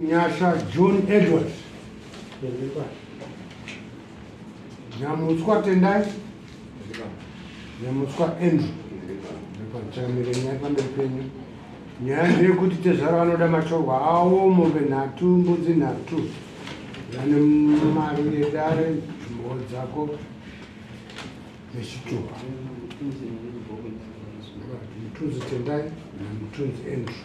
Nyasha John Edward Nyamutswa Tendai Nyamutswa Andrew Chamire pamberi penyu nyaya ndeyekuti tezvara vanoda matorwa awo mombe nhatu mbudzi nhatu vane mari yedare mhoo dzako nechituha mutunzi tendai namutunzi andrew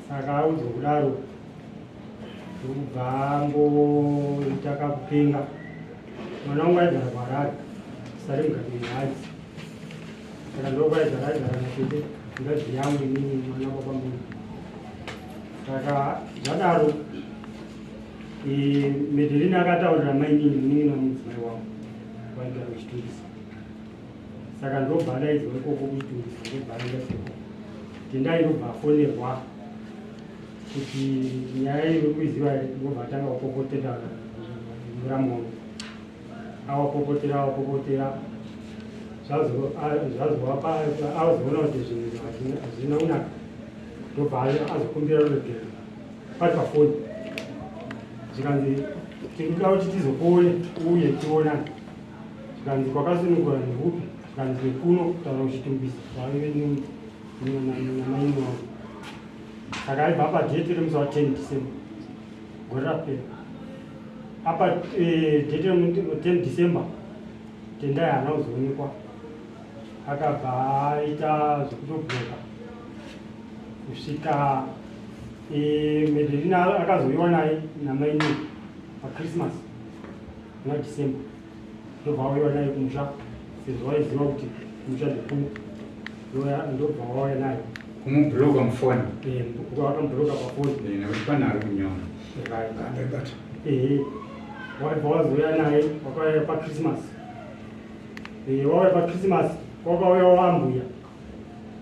saka audzwa kudaro ndokubva angoita kakupenga mwana wangu aigara kuharare sari mugati mehadzi saka ndokwaigara aigara natete ngazi yangu inini mwana kwapamberi saka zvadaro medelina akataurira mainini munin'ina mudzimai wangu waigara uchitungisa saka ndobva ndaidzwa ikoko kuchitungisa ndobva aenda soko tendai ndobva afonerwa kuti nyaya iri kuiziva here ndobva atanga kupopotera muramu wangu awapopotera awapopotera zvazovapa azoona kuti zvinhu hazvina kunaka ndobva azokumbira ruregero pari pafoni zvikanzi tikuda kuti tizokuone uye tionane zvikanzi kwakasunungura nekupi zvikanzi nekuno kutaura uchitumbisa zvaive namaini wangu saka aibva apa date remusi wa 10 december gore rapera apa eh, date remu 10 december tendai haana kuzoonekwa akabva aita zvekutobhoka kusvika eh, medelina akazoiwa naye namaini pachristmas Muna December ndobva wauya naye kumusha sezvo waiziva kuti kumusha ndikuu ndobva wauya naye kumubhuroka mufoni eh, wakamubhuroka pafoni eh, nekuti pane ari kunyora ehe waibva wazouya naye wakauya pachristmas eh, wauya pachristmas kwakauya wambuya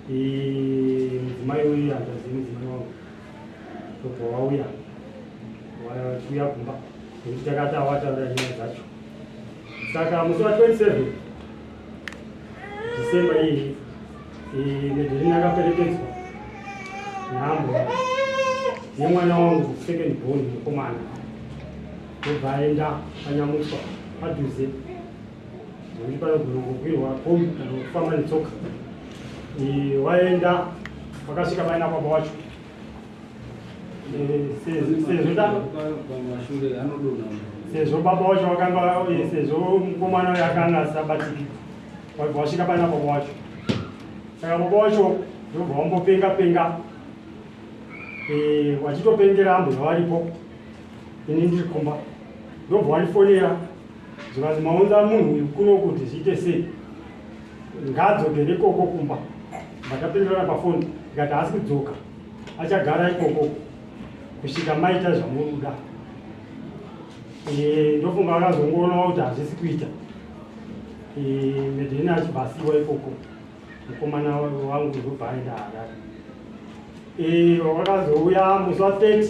mudzimai uyu handazi mudzimai wangu tobva wauya wachiuya kumba nekuti takati awataura nyaya dzacho saka musi wa 27 december iyi medherini akaperekedzwa nhambo yemwana wangu second born mukomana ndobva aenda panyamuswa padhuze Nekuti panogona kukwirwa kombi kana kufamba netsoka. Waenda wakasvika vaina baba wacho sezvo baba wacho vakanga sezvo mukomana uyo akanga asabatiki wasvika pana baba wacho saka baba wacho ndobva wambopenga penga eh, wachitopengera ambuya varipo ini ndiri kumba ndobva wandifonera Zvikanzi maunza munhu uyu kuno kuti zviite sei? Ngaadzokere ikoko kumba. Ndakapindurana pafoni ndikati haasi kudzoka, achagara ikoko kusvika maita zvamunoda. Eh, ndofunga vakazongoonawo kuti hazvisi kuita. Eh, Medheni achibva asiwa ikoko. mukomana wangu ndobva aenda harare eh, wakazouya musi wa 30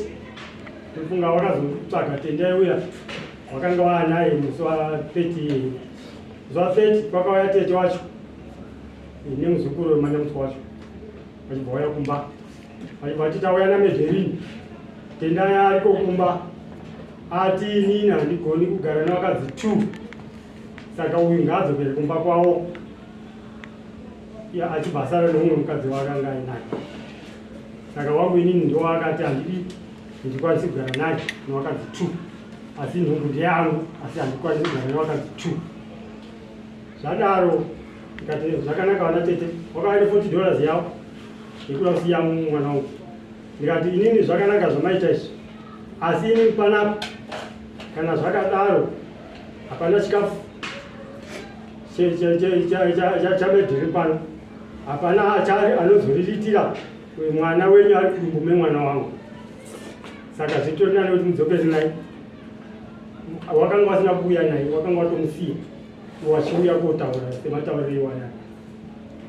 ndofunga wakazotsvaga tendai uya wakanga waanaye musi wa 30 musi wa 30 kwakauya tete wacho eh, nemuzukuru wemanyamusi wacho vachibva waya kumba vachibva vati tauya nameverini tendai ariko kumba ati inini handigoni kugara navakadzi two saka uyu ngaadzokere kumba kwavo ya achibva asara neumwe mukadzi wake anga ainaye saka wangu inini ndiwo akati handidi ndikwanisi kugara naye newakadzi two asi nhumbu ndeyangu asi handikwanisi kugara newakadzi two zvadaro ikati zvakanaka vana tete wakava neforty dollars yavo yekuda kusiya mwana wangu ndikati inini zvakanaka zvamaita izvi asi inini panapo kana zvakadaro Hapana chikafu chamedhiri pano, hapana achari anozoriritira mwana wenyu ari kudumbu memwana wangu. Saka zvitori nani kuti mudzokere naye, wakanga wasina kuuya naye, wakanga watomusiya wachiuya kotaura sematauriro iwaya.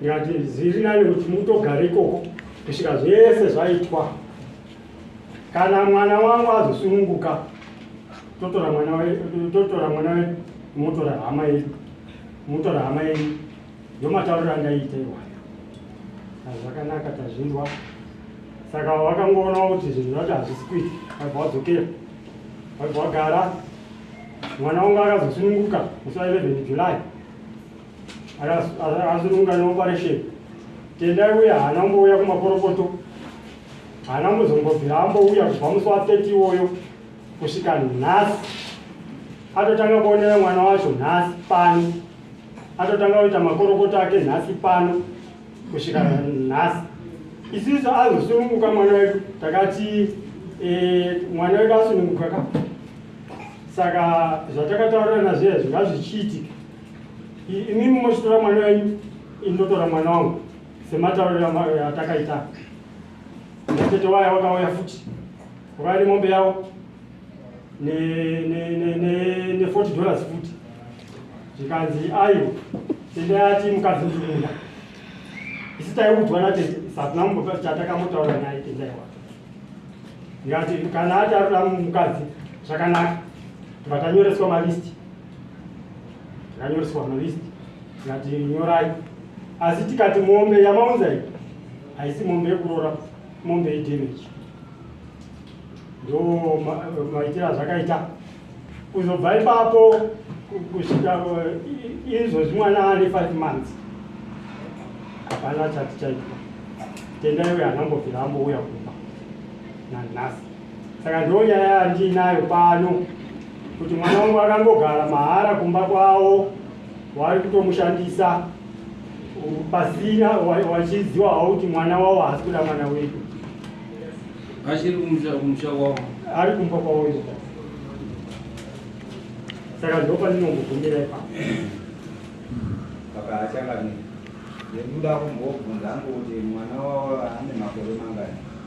Ndikati zviri nani kuti mutogare ikoko kusvika zvese zvaitwa. Kana mwana wangu azosununguka totora mwana wedu totora mwana wedu motora hama yedu motora hama yedu ndomatauriro andaita iwayo zvakanaka tazvinzwa saka wakangoona kuti zvinhu zvacho hazvisi kuita waibva wadzokera waibva wagara mwana wangu akazosununguka musi wa 11 july akasununguka neoperation tendai uya haana umbouya kumaporopoto haana kuzombobvira ambouya kubva musi wa 30 iwoyo kusvika nhasi atotanga kuonera mwana wacho nhasi pano atotanga kuita makorokoto ake nhasi pano kusvika nhasi isisu azosununguka mwana wedu takati eh, mwana wedu asununguka ka saka zvatakataurirana zviya zvingazvichiitika imimi mochitora mwana wenyu indotora mwana wangu sematauriro amayo atakaita natete waya wakauya futi wakauya nemombe yavo ne40 dollars futi zvikanzi ayo tende ati mukadzi ndikuda isi taiudzwa natete satina mumbopa chatakamotaura naye tendai wake ndikati kana ati arikuda mukadzi zvakanaka tikatanyoreswa malisti ranyoreswa mulist tikati nyorai asi tikati mombe yamaunza iyi haisi mombe yekuroora mombe yedamage ndo maitiro azvakaita kuzobva ipapo kusvika eh, izvozvi mwana ane five months hapana chati chaitwa tendaiwe anambobvira ambouya kumba nanhasi saka ndiyo nyaya yandiinayo pano kuti mwana wangu akangogara mahara kumba kwavo wari kutomushandisa pasina wachiziwa havo kuti mwana wavo haasi kuda mwana wedu achiri kumusha kwavo ari kumba kwavo saka ndo pandinongogumira ipa saka achakadii ndekuda kumbobvunza angu kuti mwana wavo ane makore mangani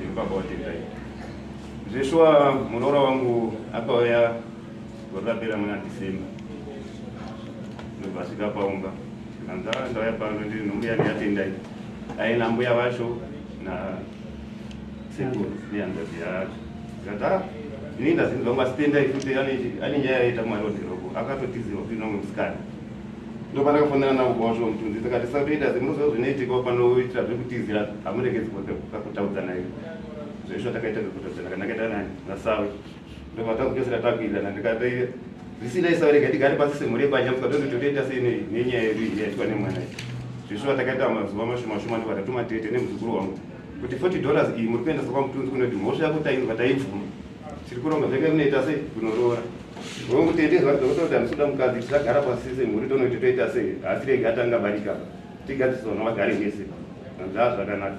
nebaba watendai zveshuwa muroora wangu akauya gore rapera muna december ndobva asvika paumba anza ah, ndauya pano ndiri nombuya ndiyatendai aina mbuya vacho na sekuru nehanzazi yacho zikati ah, ini ndazinzi vangu asitendai futi ane nyaya yaita mwari wadhiroko akatotiziva kuti nomwe musikana ndopandakafonera navo kwacho mutunzi tikati satoita asi munoziva zvinoitika panoitira zvekutizira hamuregedzi kakutaudza naye zvaisho takaita kakutaudzana kana akaita nani nasawe ndopatakuchosera takuirana ndikati zvisinai sawe rega tigare pasi semhuri yebanja mukatozototoita sei nenyaya yedu iyi yaitwa nemwana iyi zvishuva takaita mazuva mashumashuma ndopatatumatete tete nemuzukuru wangu kuti 40 dollars iyi muri kuendesa kwamutunzi kunoti mhosva yako tainzwa taibvuma tiri kuronga zvake munoita sei kunoroora Ngokutendezwa Dr. kuti handisi kuda mukadzi tisagara pasi semhuri tonoiti toita sei asi rege atanga barika tigadzisa vana vagare vese ndaa zvakanaka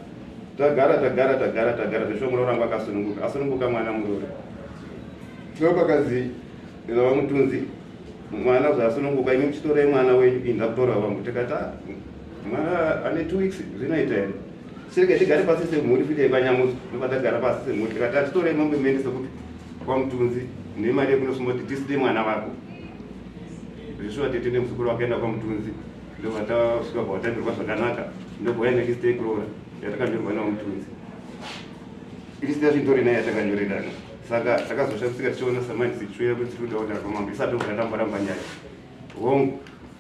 tagara tagara tagara tagara zvesho muroora wangu akasununguka asununguka mwana muroora tino pakadzi vava mutunzi mwana zvasununguka imi muchitorai mwana wenyu inda kutora vangu tikati ah, mwana ane two weeks zvinoita here sirege tigare pasi semhuri fite kwanyamuzi ndovatagara pasi semhuri tikati atitorei mombe mende sekuti kwamutunzi nemari yekunosumoti tiside mwana vako zvishuwa tete nemuzukuru wakaenda kwamutunzi ndovatasvika kwawatambirwa zvakanaka ndobhoya nekistei kurora yatakanyorwa nawo mutunzi irisita zvintori naye yatakanyoredana saka takazoshamisika tichiona samani sichuya kuti tiri kuda kuti arwa mambo isati obva tamboramba nyaya hongu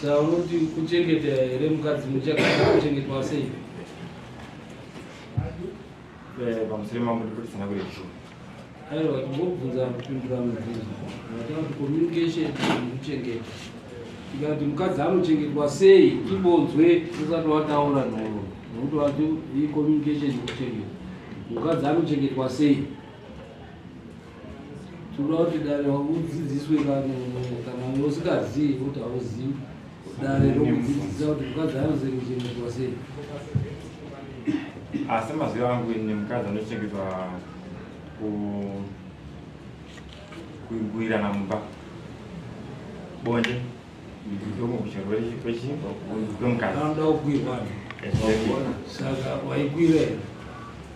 Saka unoti kuchengeta here mukadzi muchakada kuchengetwa sei? Eh, pamusiri mambo ndikutisana kuri zvo. Aiwa tingobvunza kupindura mubvunzo. Ndataura kuti communication kuchengeta. Tikati mukadzi anochengetwa sei ibonzwe usati wataura nhoro. Nokuti wati iyi communication kuchengeta. Mukadzi anochengetwa sei? tinoda kuti dare udzidziswe kana usingazivi kuti hauzivi dare rokudzidzisa kuti mukadzi anozengechengetwa sei asi maziva angu ini mukadzi anochengetwa kuigwirana mumba bonde ndomukuchirwere kwechimba kwemukadzi anoda kugwirwa saka waigwira here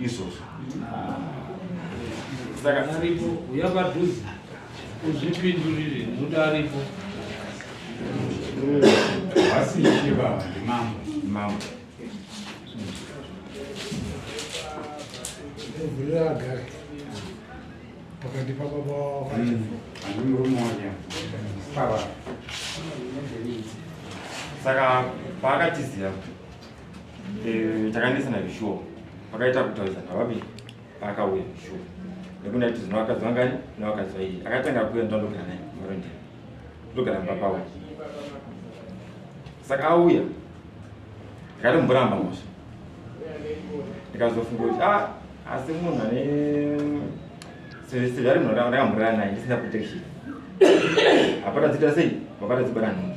izvozvo saka aripo uya padhuze uzvipindurire nekuti aripo vasishe baba ndimambo mambo vhurira agare pakati pababa andimurume wanya baba saka paakatiziva Eh, takanetsana zvishuwo pakaita kutaurisana vabi paakauya zvishuwo nekuti ndaiti zino vakadzi vangani nevakadzi vairi akatanga kuuya ndandogara naye maronde ndogara mumba pavo saka auya ndikati mboramba mosha ndikazofunga kuti a ah, asi munhu ane sevari munhu ndakamborara naye ndisina protection hapana dzita sei vapata dzibara nhungu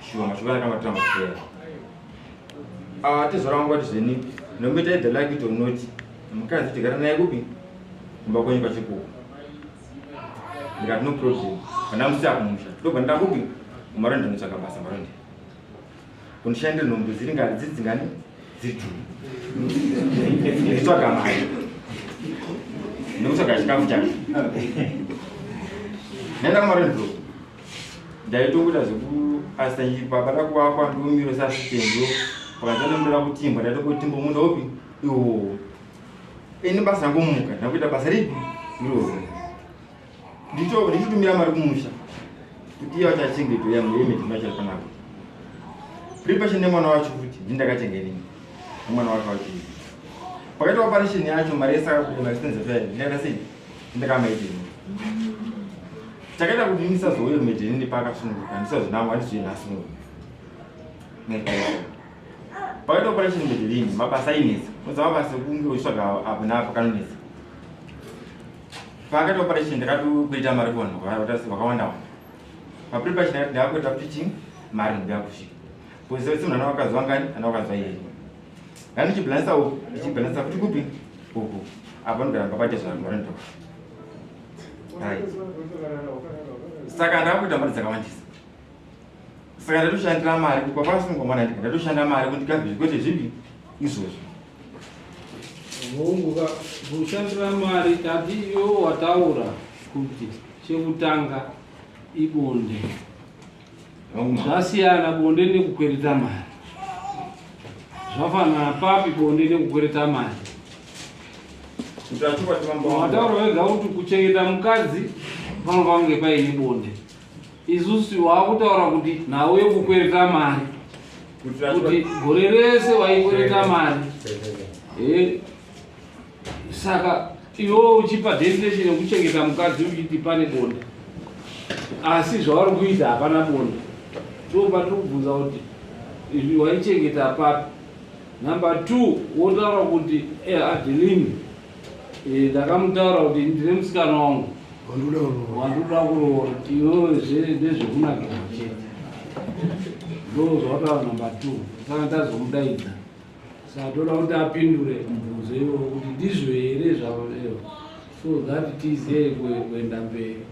Shuwa mashoko aya tanga tanga kuteera. Ah, tezora wangu wati zveni. Nomita either like it or not. Mukadzi tigara naye kupi? Kumba kwenyu pachikuku. Ndikati no problem. Kana musi akumusha. Ndobva ndakupi? Umaronda ndotsvaka basa maronda. Kundishandira nhombe dziri ngani dziri dzingani? Dziri two. Nditsvaga mari. Ndokutsvaga chikafu chake. Nenda kumaronda. ndaitokuita zvekuasita chii baba dakuvakwa ndiumiro sasitenzo pakazanondoda kutimbwa ndaitokotimbwa munda upi iwo ini basa rangumuka ndakuita basa ripi irozi ndicho ndichitumira mari kumusha kuti iya chachengeto yangu yemedimachaipanako pripashe nemwana wacho kuti ndindakachengenini nemwana wacho wacho pakaita operation yacho mari yesaka kuti mari senzefe ndakaita sei ndakamaidini takaita kuti ndisazouye kumedheni nepakasununguka ndisazvinangwa ndizvii nhasi muno pakaita operation medhelini mabasa ainetsa unoziva mabasa ekunge uchitsvaga apo naapo kanonetsa pakaita operation ndakatokuita mari kuvanhu vakawanda wanda papiri pachi ndakati ndakakuita fitting mari ndikuya kusvika kuziva kuti munhu ana vakazwa ngani ana vakazwa iyeye Nani chibalansa wo, chibalansa kuti kupi? Uku. Apa ndara papaje zvangu rando. Hai. Saka ndaku tambara dzakawandisa. Saka ndatu shandira mari kuti papa sungwa mwana ndika ndatu shanda mari kuti kazi zvikwete zvipi izvozvo. Hongu ka kushandira mari tati iyo wataura kuti chekutanga ibonde. Zvasiyana bonde nekukwereta mari. Zvafanana papi bonde nekukwereta mari? Wataura wega kuti kuchengeta mukadzi pano pange paine bonde. Isusu wakutaura kuti nhau yekukwereta mari kuti gore rese waikwereta mari. Eh. saka iwo uchipa definition yekuchengeta mukadzi uchiti pane bonda asi zvavari kuita hapana bonda tiopa tiri kubvunza kuti waichengeta papi number two wotaura kuti eh, adelini eh, ndakamutaura kuti ndine musikana wangu wandoda kuroora tiozve ndezvekunakira chete ndo zvawataura number two saka tazomudaidza satoda kuti apindure mubvunzo iwo kuti ndizvo here zvavo leo so that tizive kuenda mberi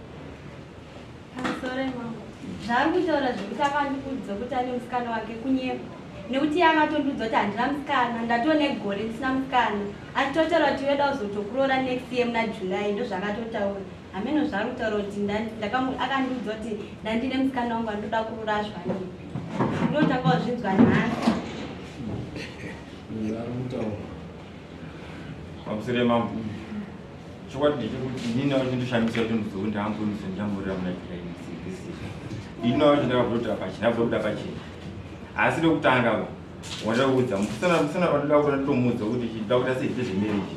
zvaari kutaura zvekuti akandiudza kuti ane musikana wake kunyepa nekuti iye akatondiudza kuti handina musikana ndatone gore ndisina musikana achitotaura kuti weda kuzotokuroora next year muna july ndozvakatotaura hameno zvaari kutaura kuti akandiudza kuti ndandine musikana wangu andoda kururashwa ndipi ndinotanga wazvinzwa nhasi pamusire mambo chokwadi ndechekuti ini navo chindoshandisa kuti muzou ndaambuise ndamurira muna kirainisiisizva ini navo chindakabvoda pachena bvoda pachena asi rekutanga va wandakuudza mukusana kusana vandoda kuti nditomuudza kuti chindida kuti asezvite zvemereji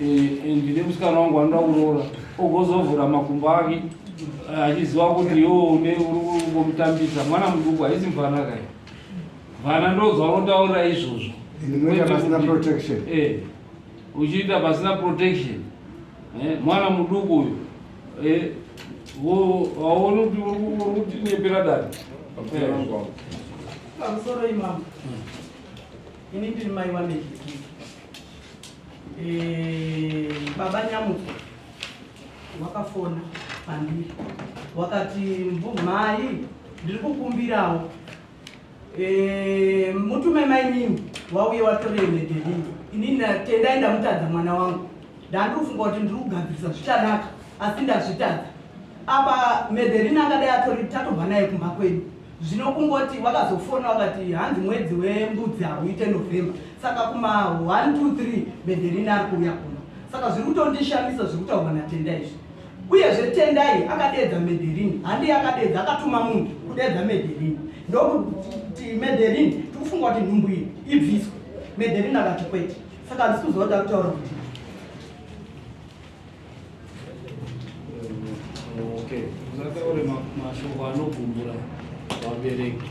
Eh, ndine musikana wangu anoda kuroora ogozovhura makumbo ake eh, achiziva kuti yo une urikungomutambisa mwana muduku haisi mvana kai vana ndozva unotaurira izvozvo eh, uchiita pasina protection mwana muduku uyu haoni kuti uri kutinyepera dani pamusoro imama hmm. ini ndiri mai wameii Eh, baba nyamuko wakafona pandiri wakati mhai ndiri kukumbirawo eh, mutume mainini wauye watore medelii inini tendai ndamutadza mwana wangu ndandirufunga kuti ndiri kugadzirisa zvichanaka asi ndazvitadza apa medelini angadai atori tatobva naye kumba kwedu Zvino kungoti wakazofona wakati hanzi mwedzi wembudzi hauite November saka kuma 1 2 3 Benderini ari kuuya kuno. Saka zviri kutondishamisa zviri kutaurwa naTendai izvi. Uyezve Tendai akadeedza Mederini, handi akadeedza akatuma munhu kudeedza Mederini. Ndokuti Mederini tikufunga kuti nhumbu iyi ibviswe. Mederini akati kwete. Saka handisi kuziva kuti akutaura kuti Okay. Uzataure mashoko anogumbura vabereki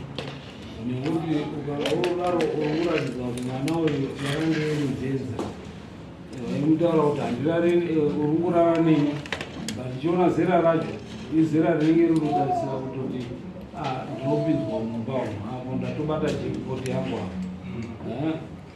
nekuti ukaodaro uratidza kuti mwana uyu yakange irujeza imutaura kuti handirare eh, uri kurara neni but ndichiona zera racho izera rinenge ririkutarisira kutoti ah, ndinopinzwa mumba umu apo ndatobata jekipoti yangu apo eh?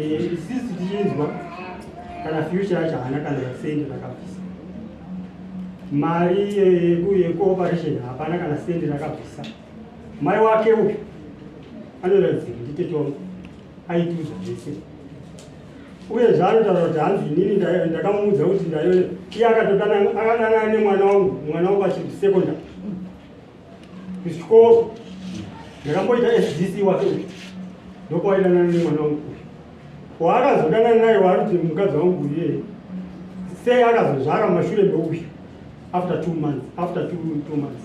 Eh, sisi tichinzwa kana future yacho haana kana sendi rakabvisa mari yecooperation hapana kana sendi rakabvisa mai wake uyu anoratidzika nditete wangu aitiudza zvese uye zvaanotaura kuti hanzi inini ndakamuudza kuti ndaiona iye akatodana akanana nemwana wangu mwana wangu achiri secondary kuchikoro ndakamboita fdc wake uyu ndokwaidanana nemwana wangu uyu waakazodanana naye waariti mukadzi wangu uye sei akazozvara mashure meuyu after two months after two, two months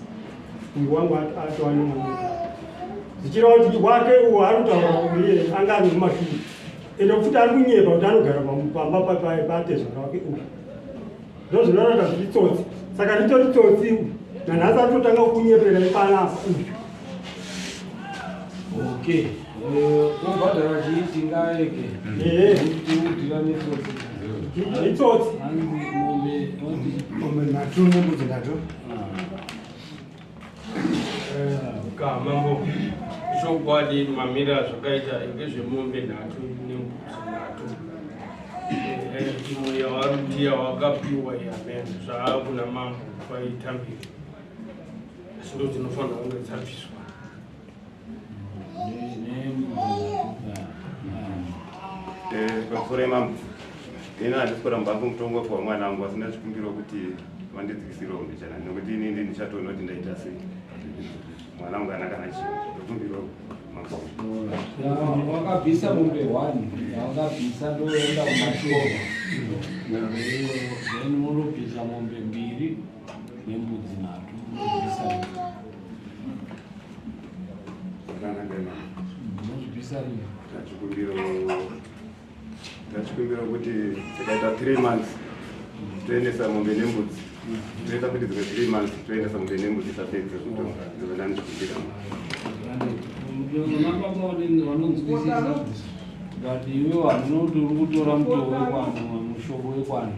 uyu wangu atova nemwana zvichireva kuti wake uwo ari kutaura uye anga ane mumashure ende futi ari kunyepa kuti anogara pamba patezvara wake uyu ndozvinorata zvitsotsi saka ritori tsotsi nanhasi atotanga kunyepera ipanapa okay wobhadhara eh, chii tingaeke tiudirane tsotsi itsotsi mombe nhatu mombe dzindatu Mambo, chokwadi mamira zvakaita ngezvemombe nhatu nembuzi nhatu imwe yawarudiya wakapiwa yamen zvaakuna mambo kwaitambira asi ndozinofanira kunge dzabviswa vakufura imambo ini handisi kuramba hangu mutongo wekuva mwana wangu asi ndazvikumbirawo kuti vandidzikisirewo mbichana nekuti ini ndi ndichatoona kuti ndaita sei mwana wangu kana kana chii ndokumbirawo wakabvisa mombe one yaungabvisa ndoenda kumashova then unobvisa mombe mbiri tachikumbira kuti takaita three months toendesa mombe nembudzi toita kuti dzimwe three months toendesa mombe nembudzi tapedze kutonga dzimwe ndani tikumbira but iwe wanotori kutora mutoo wekwanhu mushoko wekwanhu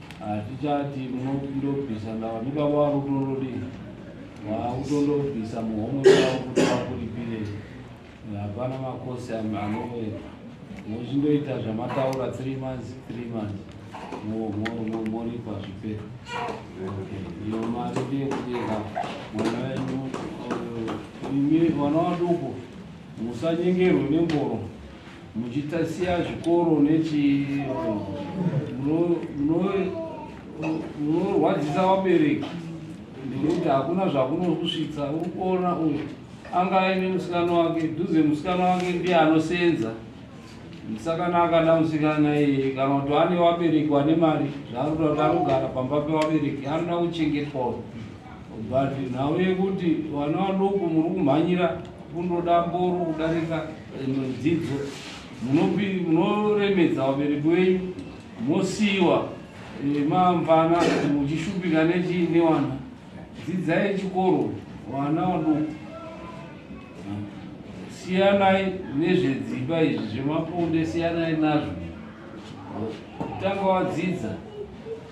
Hatichati munondobvisa ndava ndiba waakutondodii waakutondobvisa muhomwe wavo kuti vakuripirei. Hapana makosi anoweka mochindoita zvamataura three months three months moripa zvipera iyo mari ndeyekudenga mwana wenyu imi vana vaduku musanyengerwe nemboro muchitasiya zvikoro nechi munorwadzisa vabereki nekuti hakuna zvakunokusvitsa uri kuona uyu anga aine musikana wake dhuze musikana wake ndiye anosenza musikana akada musikana iye kana kuti ane vabereki vane mari zvaanoda kuti anogara pamba pevabereki anoda kuchengetwa but nhau yekuti vana vadoko muri kumhanyira kundoda mboro kudarika Imwe dzidzo munoremedza vabereki wenyu mosiiwa mamvana muchishupika nechii newana dzidzai chikoro vana vaduku siyanai nezvedzimba izvi zvemaponde siyanai nazvo tanga wadzidza